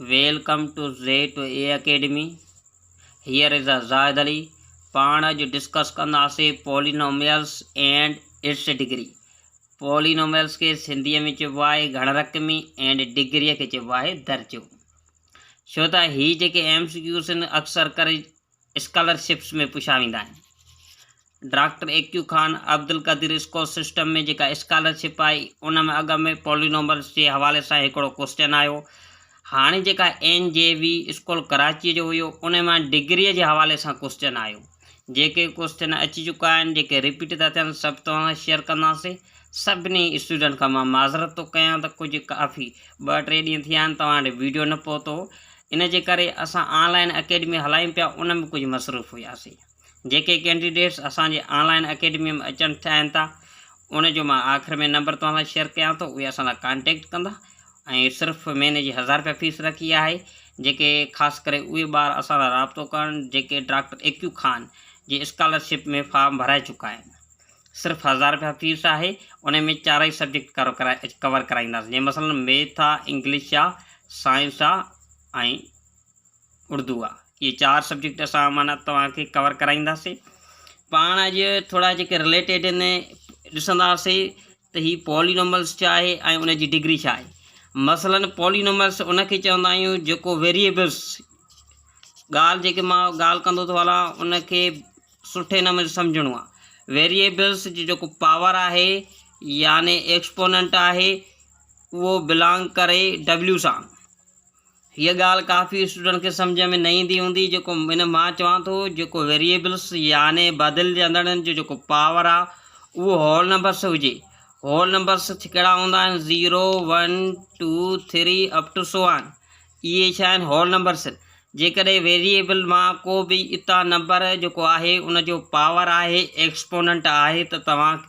Welcome to Z to A academy here is uh Zahid Ali پاڻ اڄ discuss ڪنداسين polynomials and its degree polynomials کي سنڌيء ۾ چئبو آهي گهڻ رقمي اينڊ ڊگريء کي چئبو آهي درجو ڇو ته هي جيڪي ايم سي ڪيوز آهن اڪثر ڪري اسڪالرشپس ۾ پڇا ويندا آهن. Doctor A Q Khan Abdul Qadeer score system ۾ جيڪا اسڪالرشپ آئي ان ۾ اڳ ۾ پولينومرس جي حوالي سان هڪڙو ڪوسچن آيو هاڻي جيڪا N J V school Karachi جو هيو ان مان ڊگري جي حوالي سان ڪوسچن آيو جيڪي ڪوسچن اچي چڪا آهن جيڪي رپيٽ ٿا ٿين سڀ توهان سان شيئر ڪنداسين سڀني اسٽوڊنٽ کان مان معذرت ٿو ڪيان ته ڪجهه ڪافي ٻه ٽي ڏينهن ٿيا آهن توهان وٽ ويڊيو نه پهتو ان جي ڪري اسان آن لائن اڪيڊمي هلايون پيا ان ۾ ڪجهه مصروف هياسين جيڪي ڪينڊيڊيٽس اسان جي آن لائن اڪيڊمي ۾ اچڻ چاهين ٿا ان جو مان آخر ۾ نمبر توهان سان شيئر ڪيان ٿو اهي اسان سان ڪانٽيڪٽ ڪندا ۽ صرف مهيني جي هزار رپيا فيس رکي آهي جيڪي خاص ڪري اهي ٻار اسان سان رابطو ڪرن جيڪي ڊاڪٽر ايڪيو خان جي اسڪالرشپ ۾ فارم ڀرائي چڪا آهن صرف هزار رپيا فيس آهي انهي ۾ چارئي سبجيڪٽ ڪور ڪرائينداسين جيئن مثلا ميٿ آ انگلش آ سائنس آ ۽ اردو آ اهي چار سبجيڪٽ اسان معنيٰ توهان کي ڪور ڪرائينداسين پاڻ اڄ ٿورا جيڪي رليٽيڊ ان ڏسنداسين ته هي پولينوملس ڇا آهي ۽ ان جي ڊگري ڇا آهي مثلا پولينوملس ان کي چوندا آهيون جيڪو ويريبلس ڳالهه جيڪي مان ڳالهه ڪندو ٿو هلان ان کي سٺي نموني سمجهڻو آهي ويريئبلز جي جيڪو پاور آهي يعني ايڪسپوننٽ آهي اهو بلانگ ڪري ڊبليو سان هيء ڳالهه ڪافي اسٽوڊنٽ کي سمجھ ۾ نه ايندي هوندي جيڪو هن مان چوان ٿو جيڪو ويريئبلز يعني بدلجندڙ جو جيڪو پاور آهي اهو هول نمبرس هجي هول نمبرس ڪهڙا هوندا آهن zero one two three up to so on اهي ڇا آهن هول نمبرس جيڪڏهن ويريئبل مان ڪو به اتا نمبر جيڪو آهي ان جو پاور آهي ايڪسپوننٽ آهي ته توهان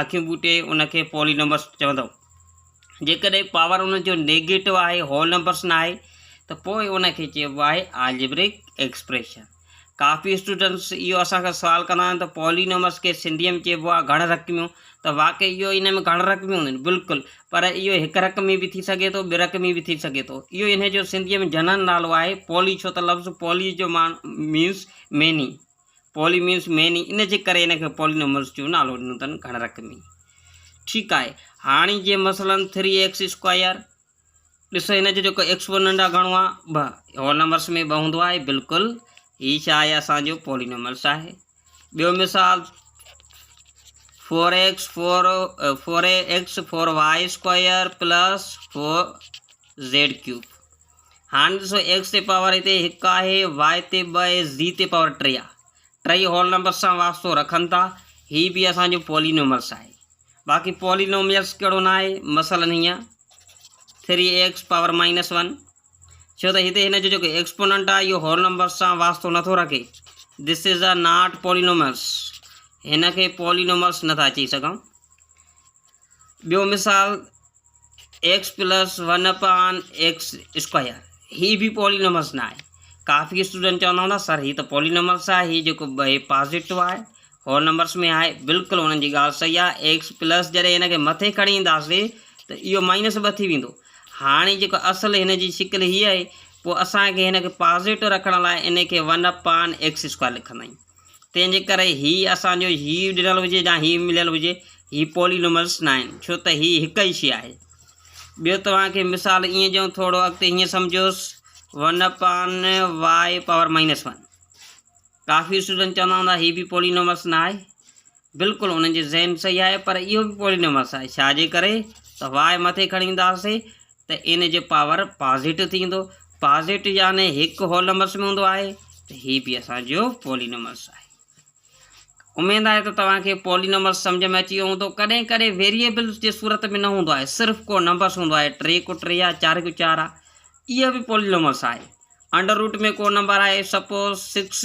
اکيون ٻوٽي ان کي پولي نمبرس چوندو جيڪڏهن پاور ان جو نيگيٽو آهي هول نمبرس ناهي ته پوء ان کي چئبو آهي آلجبريڪ ايڪسپريشن ڪافي اسٽوڊنٽس اهو اسان کان سوال ڪندا آهن ته پولينومس کي سنڌيء ۾ چئبو آهي گهڻ رقميون ته واقعي اهو ان ۾ گهڻ رقميون هونديون آهن بلڪل پر اهو هڪ رقمي به ٿي سگهي ٿو ٻه رقمي به ٿي سگهي ٿو اهو انهي جو سنڌيء ۾ جنرل نالو آهي پولي ڇو ته لفظ پولي جو معنيٰ means many poly means many ان جي ڪري ان کي پولينومس جو نالو ڏنو اٿن گهڻ رقمي ٺيڪ آهي هاڻي جيئن مثلاً ٿري ايڪس اسڪوائر ڏسو هن جو جيڪو ايڪس ون ننڊا گهڻو آ ٻه هول نمبرس ۾ ٻه هوندو آهي بلڪل هي ڇا آهي اسان جو پولينوملس آهي ٻيو مثال four x four four a x four y square plus four z cube هاڻ ڏسو ايڪس تي پاور هتي هڪ آهي واء تي ٻه اي زي تي پاور ٽي آهي ٽي هول نمبر سان واسطو رکن ٿا هي به اسان جو پولينوملس آهي باقي پولينوميلس ڪهڙو نه آهي مثلاً هيئن three x power minus one ڇو ته هتي هن جو جيڪو ايڪسپوننٽ آهي اهو هول نمبرس سان واسطو نٿو رکي دس از اے ناٽ پولينوملس هن کي پولينوملس نٿا چئي سگهون ٻيو مثال x plus one upon x square هي به پولينومس نه آهي ڪافي اسٽوڊنٽ چوندا هوندا سر هي ته پولينومس آهي هي جيڪو ٻئي پازيٽو آهي هول نمبرس ۾ آهي بلڪل انهن جي ڳالهه صحيح آهي ايڪس پلس جڏهن هن کي مٿي کڻي اينداسين ته اهو مائنس ٻه ٿي ويندو هاڻي جيڪو اصل هن جي شڪل هي آهي پوء اسانکي هن کي پازيٽو رکڻ لاء ان کي ون اپان ايڪس اسڪوائر لکندا آهيون تنهن جي ڪري هي اسان جو هي ڏنل هجي يا هي مليل هجي هي پولي نومرس نه آهن ڇو ته هي هڪ ئي شيء آهي. ٻيو توهان کي مثال ائين ڏيون ٿورو اڳتي هيئن سمجهوس one upon y power minus one. ڪافي اسٽوڊنٽ چوندا هوندا هي به پولي نومرس نه آهي. بلڪل انهن جو ذهن صحيح آهي پر اهو به پولي نومرس آهي ڇا جي ڪري ته واء مٿي کڻي اينداسين ته ان جو پاور پازيٽو ٿيندو، پازيٽو يعني هڪ هولمس ۾ هوندو آهي ته هي به اسان جو پولينومرس آهي. اميد آهي ته توهان کي پولينومرس سمجهه ۾ اچي ويو هوندو. ڪڏهن ڪڏهن ويريبلس جي صورت ۾ نه هوندو آهي صرف ڪو نمبرس هوندو آهي ٽي ڪو ٽي آهي چار ڪو چار آهي اهو به پولينومرس آهي انڊر روٽ ۾ ڪو نمبر آهي سپوز سڪس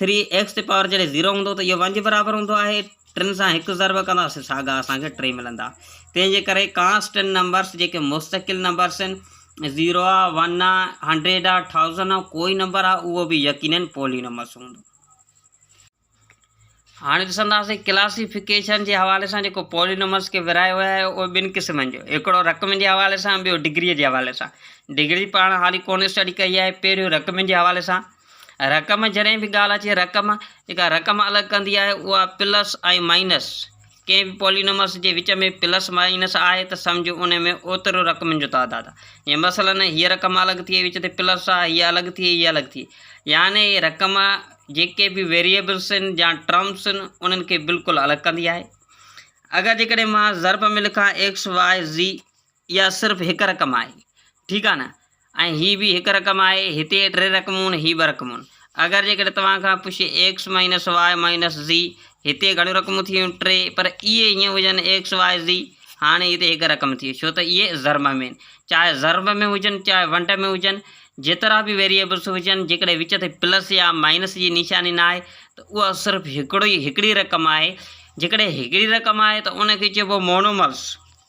ٿري ايڪس تي پاور جڏهن زيرو هوندو ته اهو ون جي برابر هوندو آهي ٽن سان هڪ ضرب ڪنداسين ساڳا اسان کي ٽي ملندا تنهن جي ڪري ڪانسٽنٽ نمبرس جيڪي مستقل نمبرس آهن زيرو آ ون آ هنڊريڊ آ ٿائوزنڊ آ ڪوئي نمبر آ اهو به يقينن پولي نمبرس هوندو هاڻي ڏسنداسين ڪلاسيفڪيشن جي حوالي سان جيڪو پولي نمبرس کي ورهايو ويو آهي اهو ٻن قسمن جو هڪڙو رقمن جي حوالي سان ٻيو ڊگري جي حوالي سان ڊگري پاڻ هالي ڪونه اسٽڊي ڪئي آهي پهريون رقمن جي حوالي سان رقم ۾ جڏهن به ڳالهه اچي رقم جيڪا رقم الڳ ڪندي آهي اها پلس ۽ مائنس ڪنهن به پولينومرس جي وچ ۾ پلس مائنس آهي ته سمجهه ان ۾ اوترو رقمن جو تعداد آهي جيئن مثلاً هيء رقم الڳ ٿئي وچ تي پلس آهي هيء الڳ ٿئي هيء الڳ ٿئي يعني هيء رقم جيڪي به ويريئبلس آهن يا ٽرمس آهن انهن کي بلڪل الڳ ڪندي آهي اگر جيڪڏهن مان ضرب ۾ لکان ايڪس واء زي اها صرف هڪ رقم آهي ٺيڪ آهي نه ۽ هي به هڪ رقم آهي هتي ٽي رقمون هي ٻه رقمون اگر جيڪڏهن توهان کان پڇي x minus y minus z هتي گهڻيون رقمون ٿي ويون ٽي پر اهي هيئن هجن ايڪس واء زي هاڻي هتي هڪ رقم ٿي ڇو ته اهي ضرب ۾ آهن چاهي ضرب ۾ هجن چاهي ونڊ ۾ هجن جيترا به ويريبلس هجن جيڪڏهن وچ تي پلس يا مائنس جي نشاني نه آهي ته اها صرف هڪڙو ئي هڪڙي رقم آهي جيڪڏهن هڪڙي رقم آهي ته ان کي چئبو مونومرس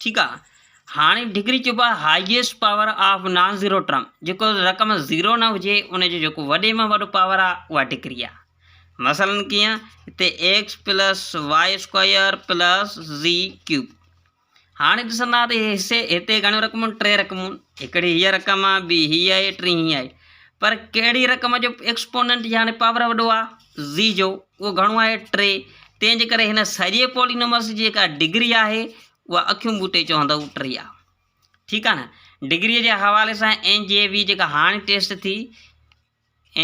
ٺيڪ آ هاڻي ڊگري چئبو آهي highest power of non zero term جيڪو رقم زيرو نه هجي ان جو جيڪو وڏي ۾ وڏو پاور آ اها ڊگري آ مثلا ڪيئن هتي x plus y square plus z cube هاڻي ڏسندا ته حصي هتي گهڻيون رقمون ٽي رقمون هڪڙي هيء رقم آ ٻي هيء آهي ٽي هيء آهي پر ڪهڙي رقم جو ايڪسپوننٽ يعني پاور وڏو آ زي جو اهو گهڻو آهي ٽي تنهن جي ڪري هن سڄي پولي نمبرس جي جيڪا ڊگري آهي اها اکيون ٻوٽي چوندو ٽي آهي ٺيڪ آهي نه ڊگري جي حوالي سان اين جي وي جيڪا هاڻي ٽيسٽ ٿي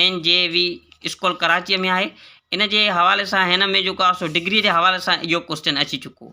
N J V school Karachi ۾ آهي ان جي حوالي سان هن ۾ جيڪو آهي سو ڊگري جي حوالي سان اهو ڪوشچن اچي چڪو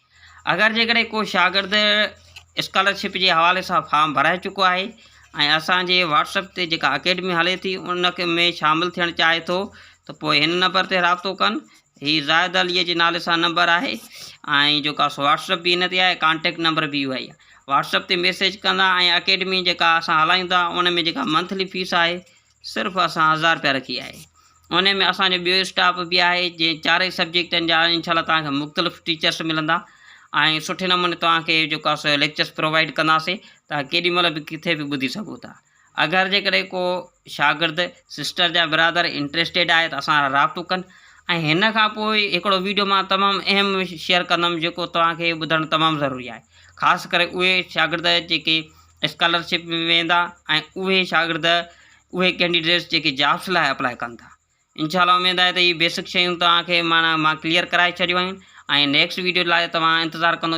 اگر جيڪڏهن ڪو شاگرد اسڪالرشپ جي حوالي سان فارم ڀرائي چڪو آهي ۽ اسان جي واٽس اپ تي جيڪا اڪيڊمي هلي ٿي ان ۾ شامل ٿيڻ چاهي ٿو ته پوء هن نمبر تي رابطو ڪن هي زاهد عليء جي نالي سان نمبر آهي ۽ جيڪا سو واٽس اپ به هن تي آهي ڪانٽيڪٽ نمبر به اهو ئي واٽس اپ تي ميسيج ڪندا ۽ اڪيڊمي جيڪا اسان هلايون ٿا ان ۾ جيڪا منٿلي فيس آهي صرف اسان هزار رپيا رکي آهي انهي ۾ اسان جو ٻيو اسٽاف به آهي جنهن چارئي سبجيڪٽن جا ان شاء الله توهان کي مختلف ٽيچرس ملندا ۽ سٺي نموني توهان کي جيڪو آهي سو ليڪچرس پرووائيڊ ڪنداسي توهان ڪيڏي مهل به ڪٿي به ٻڌي سگهو ٿا اگر جيڪڏهن ڪو شاگرد سسٽر يا برادر انٽرسٽيڊ آهي ته اسان سان رابطو ڪن ۽ هن کان پوء هڪڙو ويڊيو مان تمام اهم شيئر ڪندم جيڪو توهان کي ٻڌڻ تمام ضروري آهي خاص ڪري اهي شاگرد جيڪي اسڪالرشپ به ويندا ۽ اهي شاگرد اهي ڪينڊيڊيٽس جيڪي جابس لاء اپلاء ڪن ٿا انشاء الله اميد آهي ته هي بيسڪ شيون توهان کي معنيٰ مان ڪليئر ڪرائي ڇڏيون آهن ۽ نيڪسٽ ويڊيو لاء توهان انتظار ڪندو